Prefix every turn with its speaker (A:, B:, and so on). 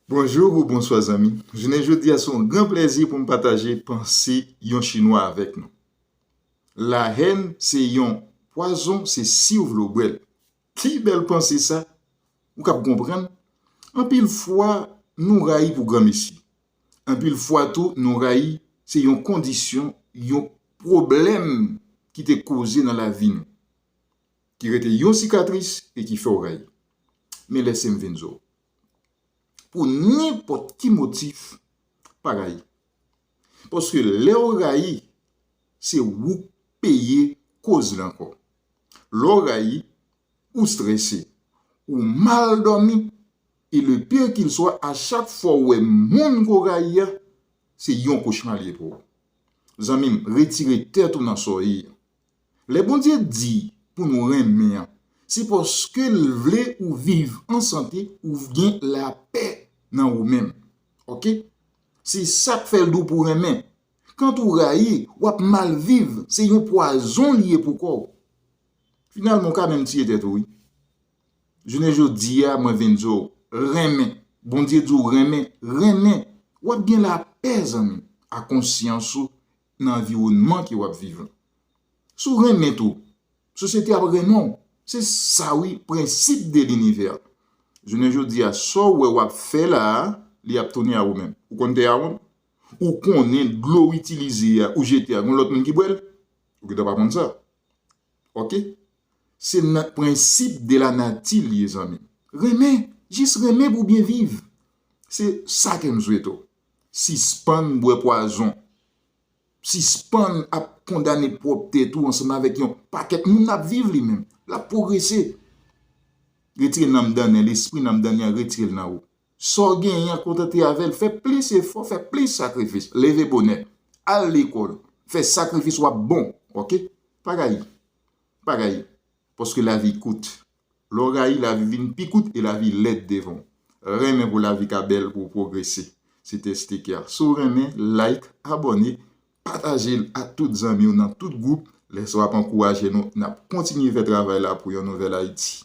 A: Bonjour ou bonswa zanmi, jounen jodi a se yon gran plèzi pou m pataje panse yon chinwa avèk nou. La haine se yon pwazon se siw vle w bwèl. Ki bèl panse sa, ou kab konprann, anpil fwa nou rayi pou granmesi, anpil fwa tou nou rayi se yon kondisyon, yon pwoblèm ki te koze nan lavi nou. ki rete yon sikatris e ki fè w rayi. Men lè se m vin zo w. Pou nenpòt ki motif, pa rayi. Paske lè w rayi, se ou k peye koz li ankò. Lè w rayi, ou strese, ou mal dòmi e le pire qu'il soit a chak fwa w wè moun ke w rayi a, se yon kochma li ye pou ou. Zanmi m, retire tèt ou nan sòyi. Lè Bondye di pou nou renmen an, se paske l vle ou viv an sante, ou gen lapè nan ou menm. Ok. Se sa k fè l di w pou w renmen. Kant ou rayi, w ap mal viv, se yon pwazon li ye pou kò w. Finalman, ou ka menm tiye tèt ou wi. Jounen jodi a, mwen vin di w, renmen. Bondye di w renmen, renmen. W ap gen lapè zanmi m, ak konsyans ou nan anviwònman ke wap viv lan. Si w renmen tou, sosyete ap renmen w. Se sa wi prensip de linivè. Jounen jodi a, sa w wè wap fè la a, li ap tounen a ou menm. Ou konn tè a wonn? Ou konnen dlo w itilize a, ou jete a, gen yon lòt moun ki bwè l? Ou gentan pa konn sa. Ok? Se nan prensip de la nati li ye zanmi m. Renmen, jis renmen pou w byen viv. Se sa ke m swete w. Sispann bwè pwazon. Sispann ap kondane pwòp tèt ou ansanm avèk yon pakèt moun nan ap viv li menm. L ap pwogrese. Retire nanm dannen, lespri nanm dannen an retire l nan ou. Sa w genyen an kontante avè l. Fè plis efò, fè plis sakrifis. Leve bonè. Al lekòl. Fè sakrifis w ap bon. Ok. Pa rayi. Pa rayi. Paske lavi kout. Lè w rayi, lavi vin pi kout e lavi lèd devan w. Renmen pou lavi ka bèl pou w pwogrese. Se te Steker. Si w renmen, like, abòne, pataje l ak tout zanmi w nan tout gwoup. Lè sa w ap ankouraje nou, n ap kontinye fè travay la pou yon nouvèl Ayiti.